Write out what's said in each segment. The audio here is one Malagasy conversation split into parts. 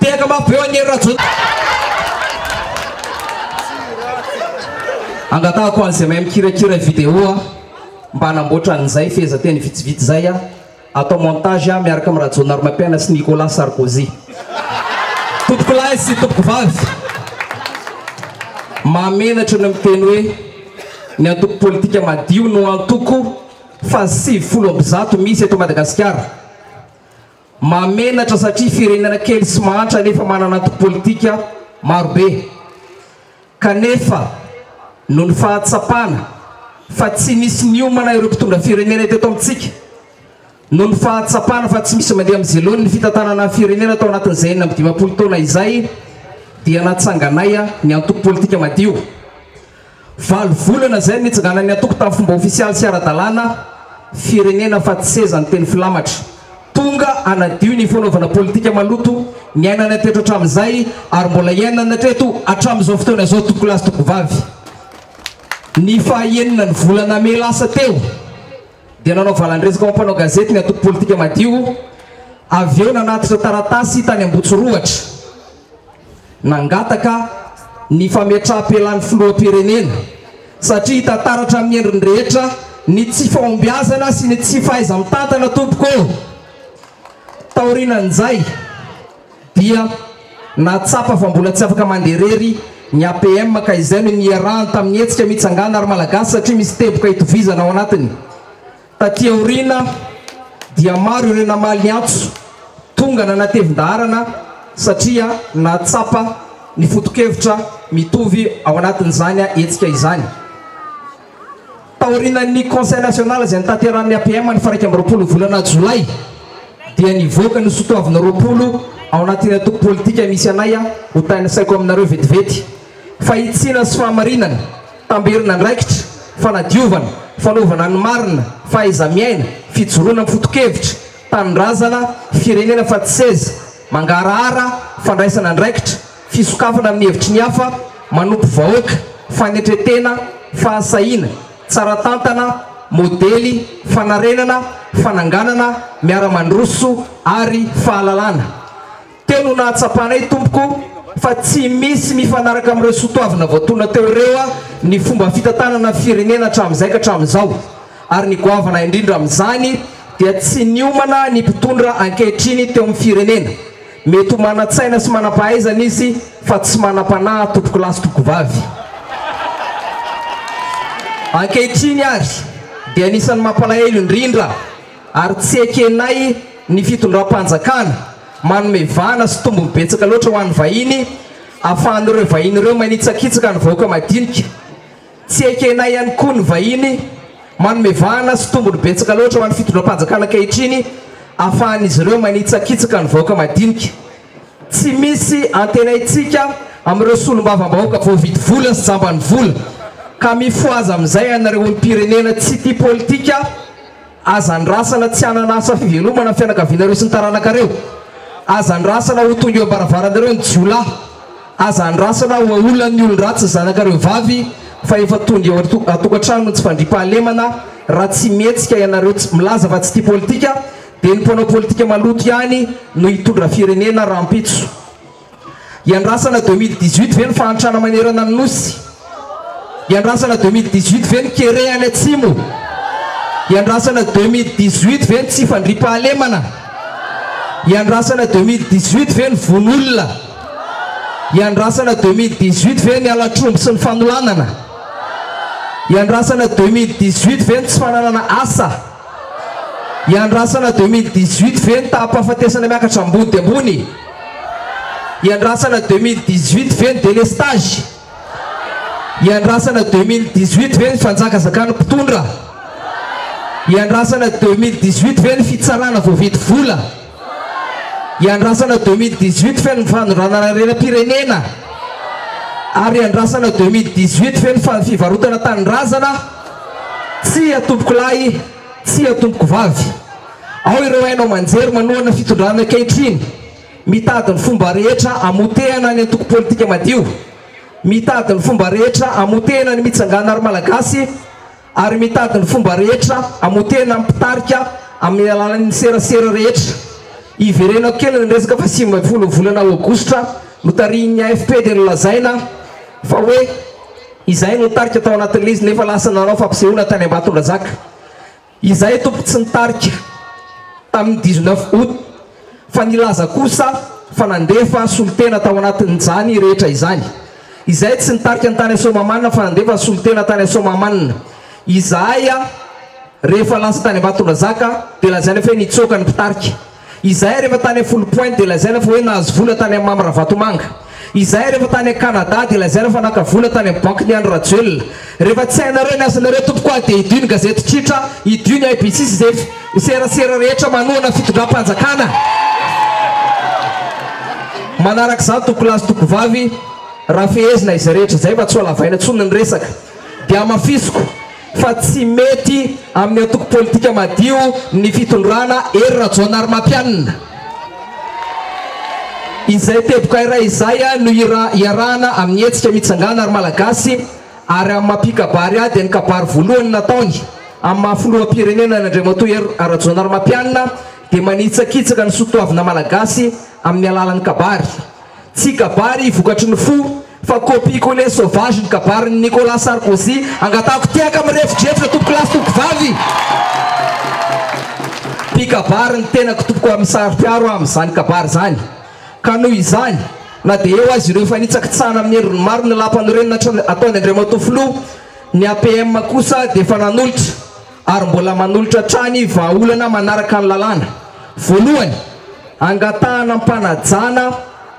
Tehaka mafy beo an'i Hery Rajoelina. Angatahako an'izay mahay mikirakira vidéo a, mba hanamboatra an'izay fehezanteny vitsivitsy izay a, atao montage a, miaraka amin'i Rajaonarimampiaina sy Nicolas Sarkozy. Tompokolahy sy tompokovavy, mahamenatra ny miteny hoe ny antoko politika madio no antoko fahasivifolo amby zato misy eto Madagasikara. Mahamenatra satria firenena kely sy mahantra nefa manana antoko politika marobe kanefa noho ny fahatsapana fa tsy misy miomana ireo mpitondra firenena eto amintsika, noho ny fahatsapana fa tsy misy mandeha amin'ny zilony ny fitantanana ny firenena tao anatin'izay enina amby dimampolo taona izay dia natsanganay ny antoko politika madio. Valo volana izay no nitsinganan'ny antoko tamin'ny fomba ofisialy sy ara-dalàna Firenena fa tsy seza ny teny filamatra. Tonga hanadio ny fanaovana politika maloto niainana hatreto hatramin'izay ary mbola iainana hatreto hatramin'izao fotoana izao tompokolahy sy tompokovavy. Ny fahaenina ny volana mey lasa teo dia nanao valan-dresaka ho mpanao gazety ny antoko politika Madio, avy eo nanatitra taratasy tany Ambotsorohatra. Nangataka ny fametraham-pelan'ny filoham-pirenena satria hita taratra amin'ny endriny rehetra ny tsy fahombiazana sy ny tsy fahaiza-mitantana tompoko ô! Taorianan'izay dia nahatsapa fa mbola tsy afaka mandeha irery ny APM ka izay no niarahany tamin'ny hetsika Mitsangàna ry Malagasy satria misy teboka itovizana ao anatiny. Taty aoriana dia maro ireo namaly ny antso tonga nanatevin-daharana satria nahatsapa ny foto-kevitra mitovy ao anatin'izany hetsika izany. Taorian'ny Conseil National izay notanterahin'ny APM ny faha iraika amby roapolo volana jolay dia nivoaka ny sotoavina roapolo ao anatin'ny antoko politika misy anay ho tanisaiko aminareo vetivety. Fahitsiana sy fahamarinana. tamberin'andraikitra, fanadiovana, fanaovana ny marina, fahaiza-miaina, fijoroana amin'ny foto-kevitra, tanindrazana, firenena fa tsy seza, mangarahara, fandraisana andraikitra, fisokafana amin'ny hevitry ny hafa, manompo vahoaka, fanetren-tena, fahasahiana, tsara tantana, modely, fanarenana, fananganana, miara-mandroso ary fahalalana. Teo no nahatsapanay tompoko fa tsy misy mifanaraka amin'ireo sotoavina voatolona teo ireo ny fomba fitantanana ny firenena hatramin'izay ka hatramin'izao ary ny goavana indrindra amin'izany dia tsy niomana ny mpitondra ankehitriny teo amin'ny firenena. Mety ho manan-tsaina sy manam-pahaizana izy fa tsy manam-panahy tompokolahy sy tompokovavy. Ankehitriny ary dia anisan'ny mampalahelo indrindra ary tsy ekenay ny fitondram-panjakana. Manome vahana sy tombony betsaka loatra ho an'ny vahiny, ahafahan'ireo vahiny ireo manitsakitsaka ny vahoaka madinika. Tsy ekenay ihany koa ny vahiny. Manome vahana sy tombony betsaka loatra ho an'ny fitondram-panjakana ankehitriny, ahafahan'izy ireo manitsakitsaka ny vahoaka madinika. Tsy misy antenaintsika amin'ireo solombavambahoaka voavidy vola sy jamban'ny vola, ka mifohaza amin'izay ianareo olom-pirenena tsy tia politika, Aza andrasana tsy hanana asa fivelomana ny fianakavianareo sy ny taranakareo. Aza andrasana ho tonga eo am-baravaranareo ny jiolahy. Aza andrasana ho aolan'ny olon-dratsy ny zanakareo vavy fa efa tonga eo an-tokantrano ny tsy fandriampahalemana raha tsy mihetsika ianareo tsy milaza fa tsy tia politika dia ny mpanao politika maloto ihany no hitondra firenena rahampitso. Hiandrasana deux mille dix huit ve ny fahantrana manerana ny Nosy? Hiandrasana deux mille dix huit ve ny kere any atsimo? Hiandrasana deux mille dix huit ve ny tsy fandriampahalemana? Hiandrasana deux mille dix huit ve ny vono olona? Hiandrasana deux mille dix huit ve ny halatr'omby sy ny fanolanana? Hiandrasana deux mille dix huit ve ny tsy fananana asa? Hiandrasana deux mille dix huit ve ny taham-pahafatesana miakatra ambody ambony? Iandrasana 2018 ve ny délestage? Iandrasana 2018 ve ny fanjakazakan'ny mpitondra? Iandrasana 2018 ve ny fitsarana voavidy vola? Iandrasana 2018 ve ny fanondranana harena-pirenena? Ary iandrasana 2018 ve ny fa fivarotana tanindrazana? Tsia tompokolahy, tsia tompokovavy. Ao ireo haino aman-jery manohana fitondrana ankehitriny, mitady ny fomba rehetra hamotehana ny antoko politika madio, mitady ny fomba rehetra hamotehana ny mitsangàna ary Malagasy, ary mitady ny fomba rehetra hamotehana ny mpitarika amin'ny alalan'ny serasera rehetra. Hiverenako kely ny resaka fa sivy ambin'ny folo ny volana aogositra notarihin'ny AFP dia nolazaina fa hoe izahay no nitarika tao anatin'ilay izy nefa lasa nanao fampisehoana tany Ambatondrazaka. Izahay tompoko tsy nitarika tamin'ny dix neuf aout fa nilaza kosa fa nandefa solontena tao anatin'izany rehetra izany. Izahay tsy nitarika ny tany Soamahamanina fa nandefa ny solontena tany Soamahamanina. Izahay rehefa lasa tany Ambatondrazaka dia lazaina fa hoe nitsoaka ny mpitarika. Izahay rehefa tany a foly point dia lazaina fa hoe nahazo vola tany amin'i Mamy Ravatomanga. Izahay rehefa tany a Canada dia lazaina fa naka vola tany amin'ny bankin'i Andry Rajoelina. Rehefa tsy hainareo ny asanareo tompoko ah dia idio ny gazety tsotra, idio ny IBC sy izay serasera rehetra manohana fitondram-panjakana manaraka izany tompokolahy sy tompkovavy raha fehezina izay rehetra izay mba tsy ho alavaina intsony ny resaka. dia hamafisiko fa tsy mety amin'ny antoko politika madio ny fitondrana Hery Rajaonarimampianina. Izay teboka iray izay no iarahana amin'ny hetsika Mitsangàna ry Malagasy ary amin'ny maha mpikabary ady ny kabary voalohany nataony amin'ny maha filoham-pirenena ny Andriamatoa Hery Rajaonarimampianina dia manitsakitsaka ny soatoavina Malagasy amin'ny alalan'ny kabary. Tsy kabary vokatry ny fo fa copie coller sauvage ny kabarin'i Nicolas Sarkozy, angatahiko tehaka mirefodrefotra tompoko lahy sy tompoko vavy! Mpikabary ny tenako tompoko ary misaro-piaro aho amin'izany kabary izany ka noho izany na dia eo aza ireo fanitsakitsahana amin'ny endriny maro ny Lapanorenina ataon'i Andriamatoa Filoha, ny APM kosa dia efa nanolotra. ary mbola manolotra hatrany vahaolana manaraka ny lalàna. Voalohany, angatahana am-panajana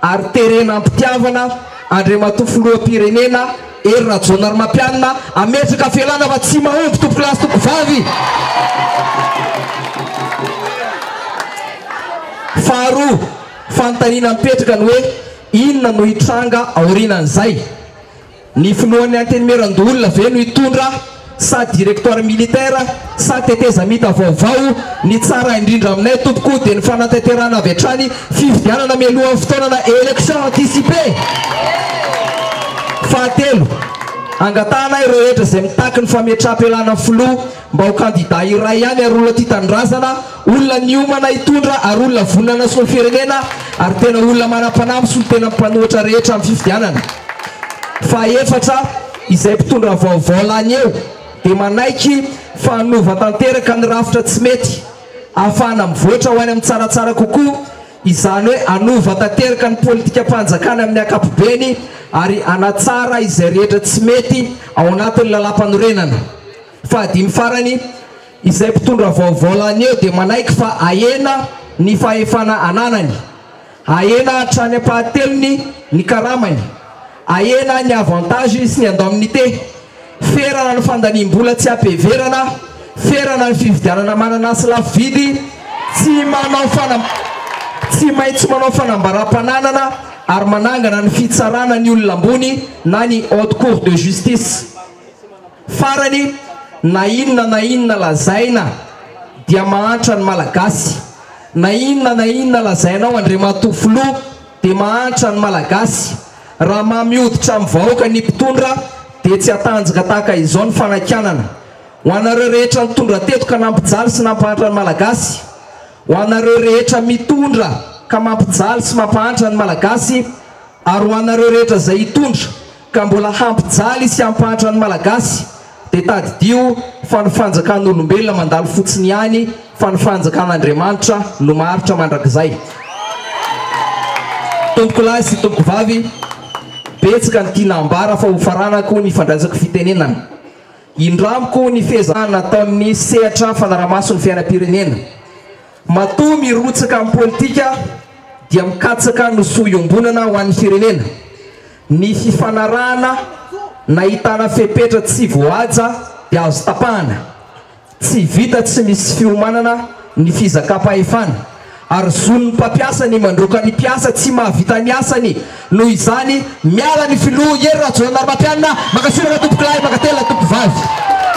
ary terena am-pitiavana Andriamatoa Filoham-pirenena Hery Rajaonarimampianina hametraka fialana fa tsy mahomby tompokolahy sy tompokovavy. Faharoa, fanontaniana mipetraka ny hoe inona no hitranga aorianan'izay. Ny filohan'ny antenimieran-doholona ve no hitondra sa directoire militaire sa tetezamita vaovao? Ny tsara indrindra aminay tompoko dia ny fanatanterahana avy hatrany fifidianana mialohan'ny fotoana na élection anticipée. Fahatelo, angatahana ireo hetra izay mitaky ny fametraham-pialana filoha Mba ho kandida iray ihany ary olona tia tanindrazana, olona niomana hitondra ary olona vonona hanasoa ny firenena ary tena olona manam-panahy amin'ny solontenan'ny mpanohitra rehetra amin'ny fifidianana. Fahefatra, izay mpitondra vaovao lany eo dia manaiky fa hanova tanteraka ny rafitra tsy mety ahafahana mivoatra ho any amin'ny tsaratsara kokoa, izany hoe hanova tanteraka ny politikam-panjakana amin'ny ankapobeny ary hanatsara izay rehetra tsy mety ao anatin'ny lalàmpanorenana. Fahadimy farany, izay mpitondra vaovao lany eo dia manaiky fa ahena ny fahefana ananany, ahena hatrany am-pahatelony ny karamany, ahena ny avantages sy ny indemnités, ferana ny fandaniam-bola tsy am-piheverana, ferana ny fividianana mananasy lafo vidy, tsy manao fanam, tsy maintsy manao fanambaram-pananana ary manangana ny fitsarana ny olona ambony na ny Haute Cour de Justice. Farany, na inona na inona lazaina dia mahantra ny Malagasy, na inona na inona lazainao Andriamatoa Filoha dia mahantra ny Malagasy, raha mamy hoditra amin'ny vahoaka ny mpitondra dia tsy hatanjaka tahaka izao ny fanakianana. Ho anareo rehetra nitondra teto ka nampijaly sy nampahantra ny Malagasy, ho anareo rehetra mitondra ka mampijaly sy mampahantra ny Malagasy, Ary ho anareo rehetra izay hitondra ka mbola hampijaly sy hampahantra ny Malagasy dia tadidio fa ny fanjakan'olombelona mandalo fotsiny ihany fa ny fanjakan'Andriamanitra no maharitra mandrakizay. Tompokolahy sy tompokovavy, betsaka ny tiana ambara fa hofaranako ny fandraisako fitenenana. Indramiko ny fiezahana ataon'ny sehatra fanarahamaso ny fiainam-pirenena. Matoa mirotsaka amin'ny politika dia mikatsaka ny soa iombonana ho an'ny firenena, ny fifanarahana nahitana fepetra tsy voahaja dia azo tapahana, tsy vita tsy misy fiomanana ny fizakam-pahefana. ary zon'ny mpampiasa ny mandroaka ny mpiasa tsy mahavita ny asany, noho izany miala ny filoha Hery Rajoelina Ramatreanina, mankasitraka tompokolahy, mankatelina tompokovavy.